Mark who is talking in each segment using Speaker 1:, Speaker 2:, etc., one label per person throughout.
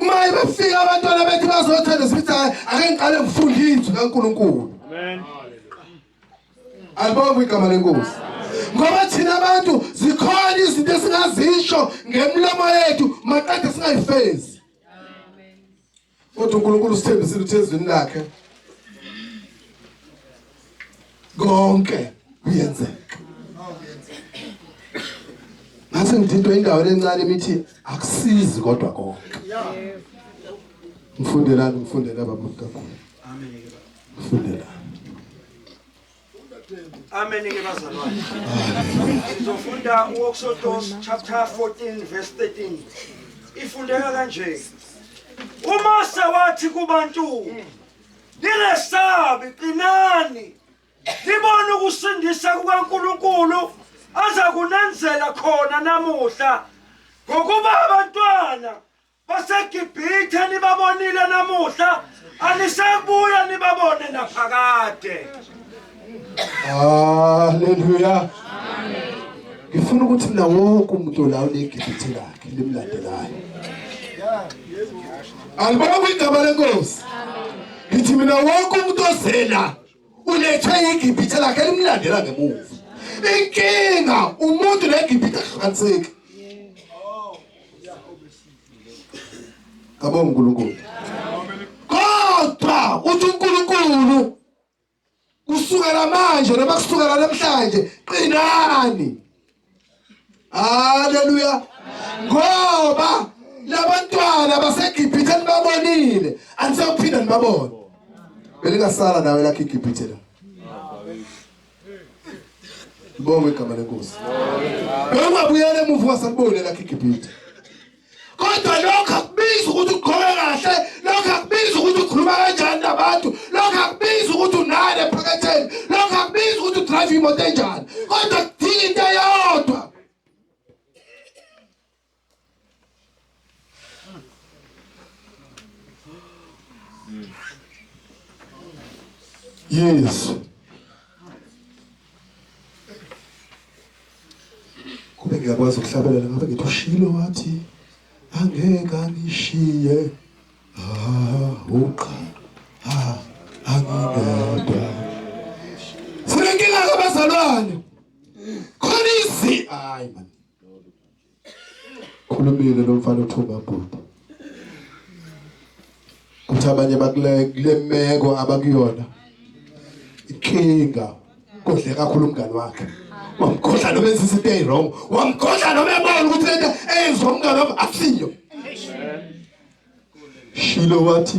Speaker 1: uma ebefika abantwana bethu bazothanda sithi hayi ake ngiqale ngifunde izwi kaNkuluNkulu
Speaker 2: amen
Speaker 1: alibonga igama lenkosi ngoba thina abantu zikhona izinto esingazisho ngemlomo yethu maqede singayifezi kodwa uNkulunkulu usithembisile ukuthi ezwini lakhe konke kuyenzeka ngase ngithintwa indawo lencane imithi akusizi kodwa konke mfundelani mfundela baba mntakulu amen mfundelani
Speaker 2: Amen ke bazalwane. Sizofunda uEksodos chapter 14 verse 13. Ifundeka kanje. UMose wathi kubantu ningesabi qinani nibone ukusindisa kukaNkulunkulu aza kunenzela khona namuhla ngokuba abantwana baseGibhithe nibabonile namuhla anisebuya nibabone naphakade
Speaker 1: Haleluya. Ngifuna ukuthi mina wonke umuntu la unegibhithe lakhe limlandelayo. Alibonga igama lenkosi. Ngithi mina wonke umuntu ozela ulethe igibhithe lakhe limlandela ngemuva. Inkinga umuntu negibhithe ahlukaniseki. Kabonga uNkulunkulu. Kodwa uthi uNkulunkulu kusukela manje noma kusukela namhlanje qinani haleluya ngoba labantwana baseGibhithe nibabonile anisawuphinda nibabone belingasala nawe lakhe iGibhithe la Bonge igama lenkosi. Bengabuyela emuva wasabone lakhe iGibhithe. kodwa lokho akubizi ukuthi ugqoke kahle lokho akubizi ukuthi ukhuluma kanjani nabantu lokho akubizi ukuthi unani ephaketheni lokho akubizi ukuthi udrive imoto enjani kodwa kudinga into eyodwa yesu kube ngiyakwazi ukuhlabelela ngabe ngithi ushilo wathi angeke angishiye ah uqa ah angingedwa sinenkinga kabazalwane khona izi hayi man khulumile lo mfana uthuma bhuti kuthi abanye bakule kule meko abakuyona inkinga kodle kakhulu umngani wakhe wamkhohla noma enza izinto eziwrong wamkhohla noma ebona ukuthi lento eyenziwa umngani wami akusiyo shilo wathi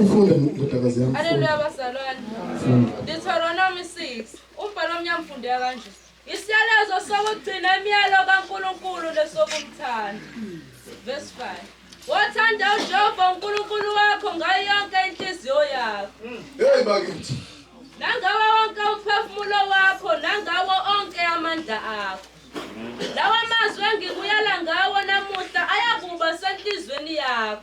Speaker 3: Ufunde ndodakazi yami. Haleluya bazalwane. Deuteronomy 6. Umbhalo omnyama ufundeka kanje. Isiyalezo sokugcina imiyalo kaNkulunkulu lesokumthanda. Verse 5. Wathanda uJehova uNkulunkulu wakho ngayo yonke inhliziyo yakho. Hey bakithi.
Speaker 1: Nangawo
Speaker 3: wonke umphefumulo wakho nangawo onke amandla akho. Lawa mazwi engikuyala ngawo namuhla ayakuba senhlizweni yakho.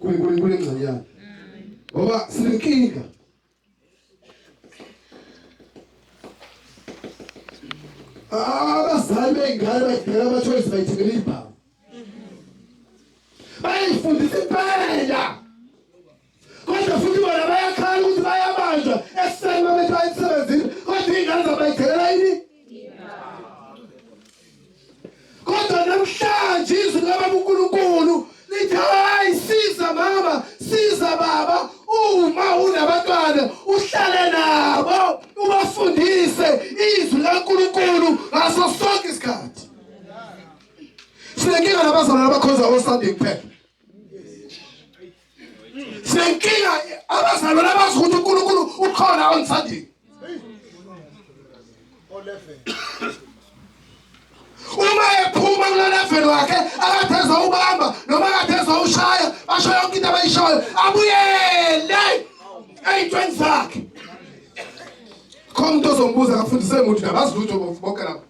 Speaker 1: kuNkulunkulu engconyana ngoba sinenkinga abazali bey'ngane bayidela amathoyizi bayithengela ibhamu bayifundisa impela kodwa futhi bona bayakhala ukuthi bayabanjwa ekuseni mabethi bayisebenzile kodwa iy'ngane zabo bayidela yini kodwa namhlanje izwi likababa unkulunkulu lithi hayi siza mama siza baba uma unabantwana uhlale nabo ubafundise izwi likankulunkulu ngaso sonke isikhathi sinenkinga nabazalwane abakhonza osunday kuphela sinenkinga abazalwane abazi ukuthi uNkulunkulu ukhona on Sunday uma ephuma kuleleveni wakhe akatheza ubamba noma akatheza ushaya basho yonke into abayishoyo abuyele ey'ntweni zakhe khona umuntu ozombuza akafundise muntu nabazi lutho bonke lapho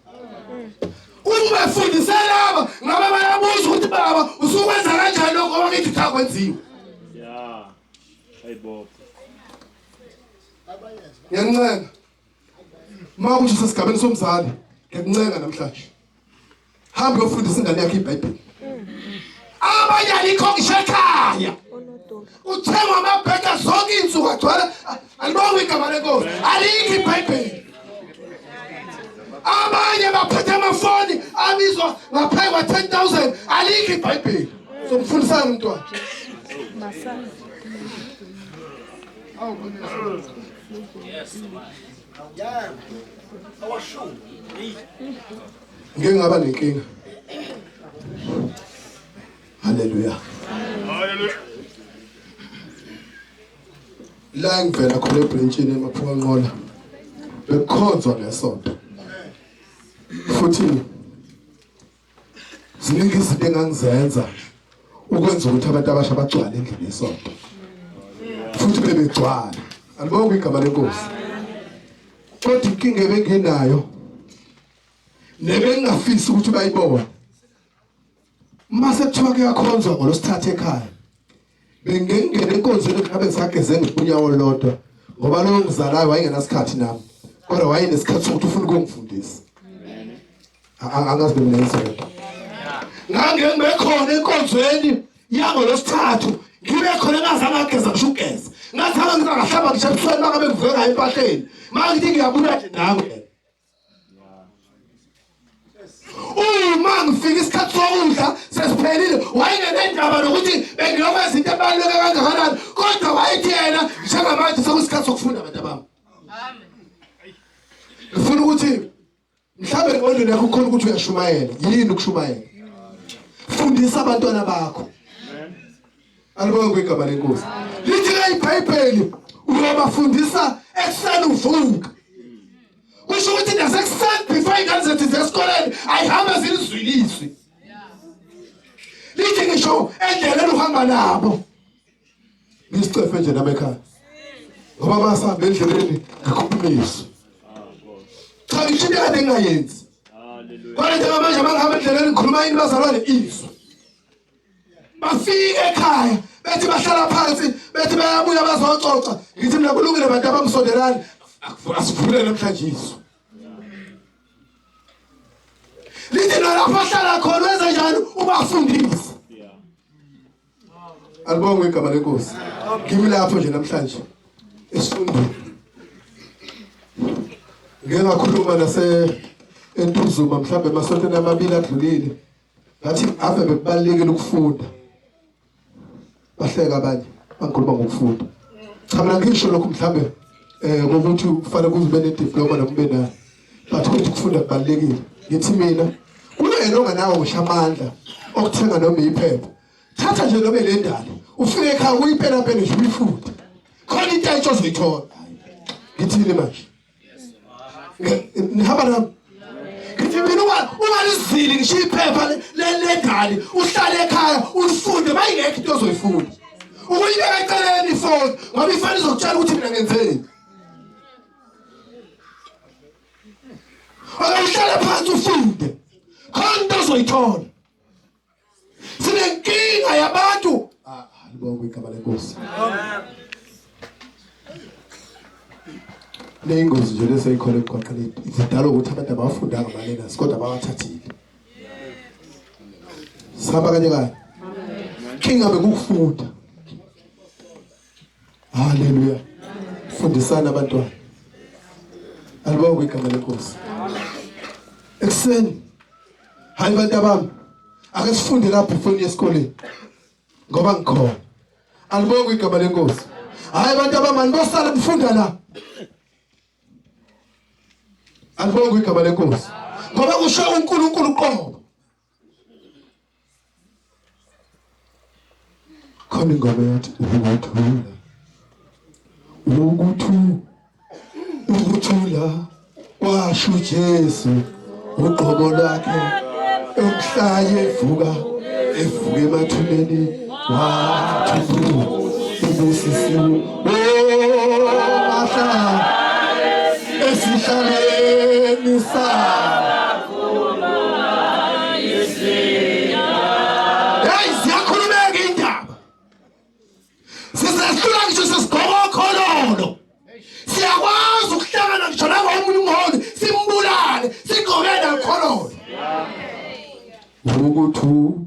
Speaker 1: Uma efundisa laba ngaba bayabuza ukuthi baba usukwenza kanjani lokho abakithi cha kwenziwe.
Speaker 4: Yeah. Hayibo.
Speaker 1: Ngiyancenga. Uma ukuthi sesigabeni somzali, ngiyancenga namhlanje. Hamba uyofundisa ingane yakhe iBhayibheli. Abanye alikho ngishekhaya. Kuthengwa amabheka zonke iy'nsuku agcwala alibonga igama lenkosi alikho ibhayibheli abanye baphethe amafoni abizwa ngaphezu kwa-ten thousand alikho ibhayibheli somfundisana umntwana ngingaba nenkinga Hallelujah.
Speaker 4: Hallelujah.
Speaker 1: La ngivela khona ebranchini emaphuka nqola. Bekhonzwa ngesonto. Futhi ziningi izinto engangizenza ukwenza ukuthi abantu abasha bagcwale endlini yesonto. Futhi bebegcwala. Alibonga igama lenkosi. Kodwa inkinga ebenginayo nebengingafisi ukuthi bayibone Mase kuthiwa kuyakhonzwa ngolosithatha ekhaya. Bengengene enkonzweni ngabe ngisageze ngepunyawo lodwa ngoba lo ngizalayo wayengenasikhathi nami. Kodwa wayenesikhathi sokuthi ufuna ukungifundisa. Angazi mina ngizwe. Ngangengibekhona enkonzweni yango losithathu ngibe khona ngazange ageza ngisho ugeza ngathanga ngizangahlaba ngisho ebusweni makabe ngiveka empahleni mangithi ngiyabuya nje nawe uma ngifika isikhathi sokudla sesiphelile wayengenendaba nokuthi bengiyokwenza into ebaluleke kangakanani kodwa wayethi yena njengamanje sekusikhathi sokufunda abantu abami ngifuna ukuthi mhlawumbe engqondweni yakho ukhona ukuthi uyashumayela yini ukushumayela fundisa abantwana bakho Alibonge kwegama lenkosi. Lithi ke iBhayibheli uyobafundisa ekuseni uvuka. Kusho ukuthi nasekuseni before ingane zethu zesikoleni ayihambe zilizwilizwe. Lithi ngisho endleleni uhamba nabo. Ngisicefe nje nami ekhaya. Ngoba basahamba endleleni ngikhuphumisa. Cha ngisho into kade ngingayenzi. Hallelujah. Kodwa njengamanje mangihamba endleleni ngikhuluma yini bazalwane izwi. bafike ekhaya bethi bahlala phansi bethi bayabuya bazoxoxa ngithi mina kulungile bantu abamsondelani asivule namhlanje isu lithi nalapho ahlala khona wenza njani ubafundise alibonge igama lenkosi kimi lapho nje namhlanje esifundweni ngeke ngakhuluma nase entuzuma mhlawumbe emasontweni amabili adlulile ngathi ave bekubalekile ukufunda bahleka abanye angikhuluma ngokufunda cha mina ngisho lokho mhlambe eh ukuthi kufanele kuzibe ne diploma nokube nayo but ukuthi ukufunda kubalekile ngithi mina kunayena onganawo ngisho amandla okuthenga noma iphepha thatha nje noma le ndalo ufike ekhaya uyipela pele nje uyifunde khona into ayitsho zoyithola ngithini manje nihamba nami ngithi mina ungalizili ngisho iphepha lelegani uhlale ekhaya ulifunde mayingekho into ozoyifunda ukuyibeka eceleni ifoni ngoba ifoni izokutshela ukuthi mina ngenzeni akayihlale phansi ufunde khona into ozoyithola sinenkinga yabantu ah, libonga igama lenkosi leyingozi nje leseyikhona emgwaqeni zidala ukuthi abantu abafundanga malenas kodwa bawathathile sihamba kanye kanye kingabe kukufunda haleluya fundisana abantwana alibonge igama lenkosi ekuseni hayi bantu abami ake sifunde lapho ifoni yesikoleni ngoba ngikhona alibonga igama lenkosi hayi bantu abami anibosala kufunda la alibonga igama lenkosi ngoba kusho uNkulunkulu qobo khona ingoma yathi ukuthula ukuthula ukuthula kwasho Jesu uqobo lwakhe emhlaye evuka evuka emathuneni wathula ubusisiwe oh mahla esihlaleni sakhe Hey, ziyakhulumeka indaba. Sisehlula ngisho sesigqoka okhololo. Siyakwazi ukuhlangana ngisho nangomunye umholi simbulale sigqoke nakhololo. Ukuthu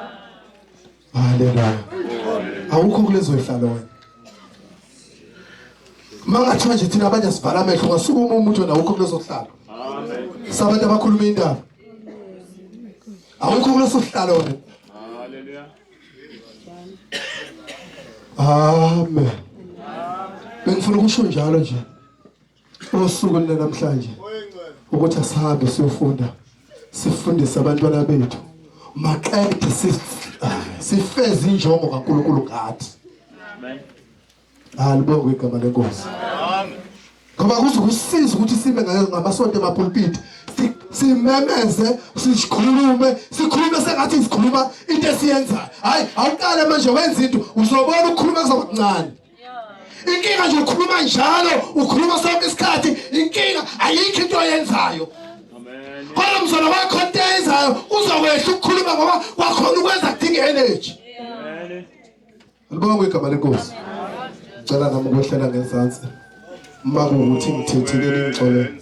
Speaker 1: Haleluya. Awukho kulezo zihlalo wena. Mangathiwa nje thina abanye sivala amehlo ngasuka uma umuntu wena awukho kulezo zihlalo. Amen. Sabantu abakhuluma indaba. Awukho kuleso sihlalo wena.
Speaker 4: Haleluya.
Speaker 1: Amen. Bengifuna ukusho njalo nje. usuku lwanamhlanje ukuthi asihambe siyofunda sifundise abantwana bethu maqede sifeze injongo kaNkuluNkulu ngathi alibonge igama lenkosi ngoba kuzokusiza ukuthi sibe ngayo ngamasonto emapulpiti simemeze sikhulume sikhulume sengathi sikhuluma into esiyenzayo hayi awuqale manje wenza into uzobona ukukhuluma kuzoba kuncane inkinga nje ukhuluma njalo ukhuluma sonke isikhathi inkinga ayikho into oyenzayo
Speaker 4: kodwa mzona wakho
Speaker 1: into eyenzayo uzokwehla ukukhuluma ngoba wakhona ukwenza kudinga energy
Speaker 4: libonge
Speaker 1: igama lenkosi cela nami ukwehlela ngezansi uma kuwukuthi ngithethile ningixolele